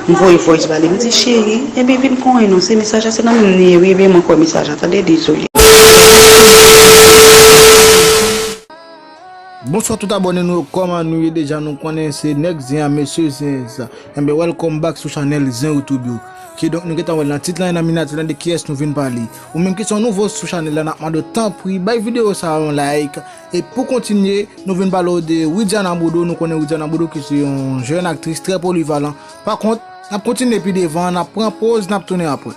M voye voice ba li m di cheri ebyen vin konyen non se mesaj la se nan menm nou ye wi ebyen mwen kwè mesaj la tande dezole. Bonswa tout abòne nou yo kòman nou ye deja nou konnen se nèg zen an mesye zen sa enben welcome back sou chanèl zen youtube yo kidonk nou gentan wè nan tit lan e nan miniyati lan de kiyès nou vin pale. Ou menm ki son nouvo sou chanel la nap mande w tanpri bay video sa yon like e pou kontinye nou vin pale w de Widiana Bodo nou konnen Widiana Bodo ki se yon jèn aktris trè polivalan pa kont nap kontinye pi devan nap pran poz nap tounen apre.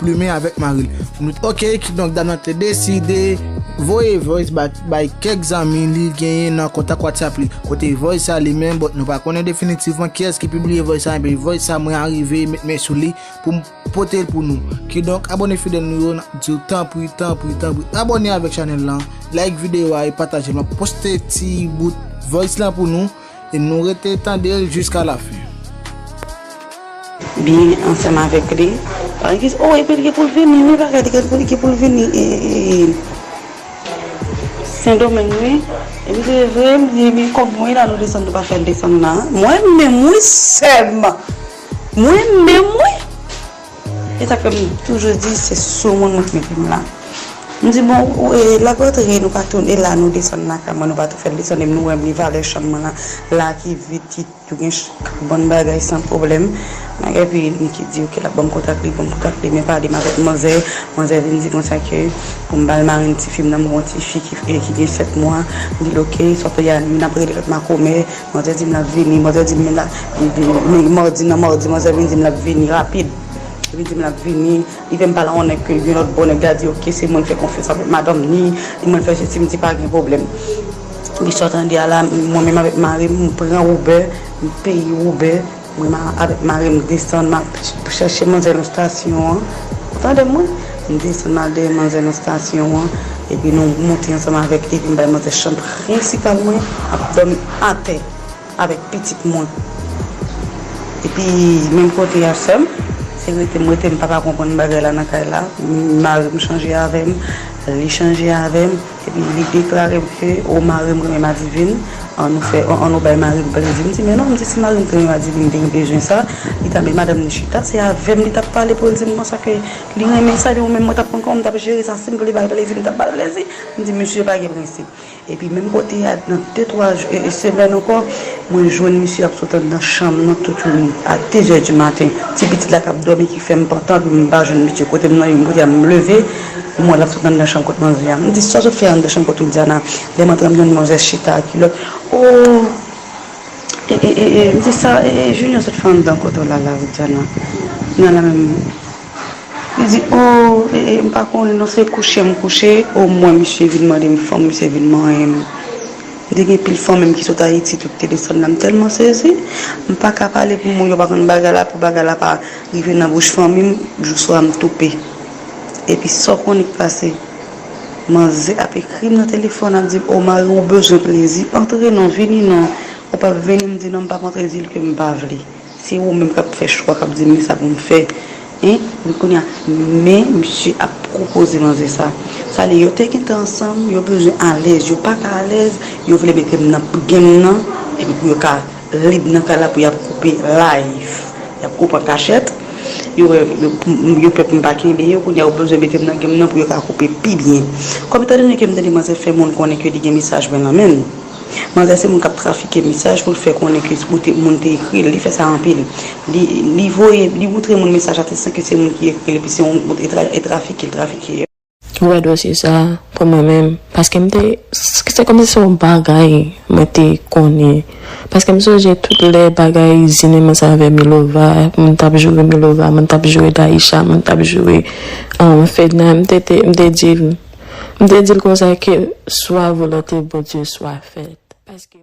Plumen avèk mari l. Ok, kidonk Dana te deside voye voice ba bay kèk zanmi li genyen nan kontak whatsapp li. Kote voice sa li menm, bon nou pa konnen definitivman kiyès ki pibliye voice sa enben voice sa mwen arive met men sou li pou m pote l pou nou. Kidonk abone fidèl nou yo n ap di w tanpri tanpri tanpri abone avèk chanèl lan, like videyo a e pataje l. M ap poste ti bout voice lan pou nou. E nou rete tande l jiska lafen. Byen ansanm avèk li. Paran ki di, O, epi li gen pou l vini wi, bagay li gen pou l vini e Sendomeng wi. E m di, E vre? M di, Ebyen kòb mwen la nou desann nou pa fè l desann nan. Mwen menm wi sè m! Mwen menm wi! E sa k fè m toujou di se sou moun mwen te mete m la. M di bon, lap rantre nou pa tou, e la nou desann nan kay mwen nou pa tou fè l desann e nou wè m li valè chanm mwen lan la ki vid ki tou gen bon bagay san pwoblèm. Bagay epi Niki di ok lap ban m kontak li, ban m kontak li men pa di m avèk manzè. Manzè vin di konsa ke pou m ba l marenn ti fi m nan, m gen yon ti fi ki gen 7 mwa. M di l ok, Sofia, youn ap rele lòt makomè. Manzè di m l ap vini, manzè di m l ap vini, madi nan madi manzè vin di m l ap vini rapid, li vin di m l ap vini, li fè m pale ak yon nèg ke yon lòt bò, nèg la di ok se mwen l fè konfyans avèk madanm li, li mwen l fè sesi, m di pa gen pwoblèm. Epi sa w tande a la, mwen menm avèk mari m, m pran Uber, m peye Uber. Mwen avèk mari m desann map chèche manzè nan stasyon an ou tande mwen m desann mal dèyè manzè nan stasyon an epi nou monte ansanm avèk epi m bay manzè chanm prensipal mwen ap dòmi atè avèk pitit mwen epi menm kote a sèm se rete m rete m paka konprann bagay la nan kay la mari m chanje avèm li chanje avèm. Epi li deklare m ke o mari m renmen madivin, an nou fè, an nou bay mari m plezi. M di men non, m di si mari m te renmen madivin li te gen bezwen sa, li ta met madanm li chita, se avè m li t ap pale pou l di m konsa ke li renmen sa, epi mwen menm mwen t ap konn kòman m t ap jere sa, si m vle ba l plezi m t ap ba l plezi. M di misye pa gen prensip. Epi menm kote a, nan de twa jou, e e semèn ankò, mwen jwenn misye ap sot anndan chanm nan tout yon nit, a dezè di maten, ti pitit la k ap dòmi ki fè m pantan, epi m pa jwenn misye kote m nan, epi m kote a m leve. M wè l ap sot nan anndan chanm kot manzè a. M di, Sa w sot fè anndan chanm kot Widiana? Lè m antre an m jwenn manzè chita a kilòt. O! E e e e! M di, Sa e e Junior sot fè anndan kot ou la la Widiana? Nan la menm. Li di, O! E e m pa konnen non se kouche m kouche. O mwen misye vin mande m fanm, misye vin manyen m. M te gen pil fanmi m ki sot Ayiti tout te desann la. M tèlman sezi. M pa ka pale pou moun yo pa konn bagay la pou bagay la pa rive nan bouch fanmi m. Jou swa m toupe. Epi sa w konnen k pase? Manzè ap ekri m nan telefòn ap di m o mari w bezwen plezi antre non vini non ou pap vini m di non m pap antre di l ke m pa vle se ou menm k ap fè chwa k ap di m men sa pou m fè hein epi kounye a men misye ap pwopoze manzè sa sa le yo te gentan ansanm yo bezwen alèz yo paka alèz yo vle mete m nan gen m nan epi pou yo ka. Lib nan kay la pou yap koupe live yap koupe an kachèt yo wè yo pè poum pa kenbe yo kounya yo bezwen metem nan game nan pou yo ka koupe pi byen kòm etan done kem tande manzè fè moun konnen ke li gen mesaj mwen nan menl manzè se moun kap trafike mesaj poul fè konnen ke ou te moun te ekril li fè sa anpil li li voye li moutre moun mesaj la te san ke se moun ki ekril epi se yon e trafike li trafike yo. Ou wè dosye sa pou mwen menm paske m te se kòmsi se yon bagay mwen te konnen paske m sonje tout lè bagay zineman sa avè milova moun t ap joure milova moun t ap joure dayisha moun t ap joure fedna m te te m te di l m te di l konsa ke swa volonte bondye swa fèt paske.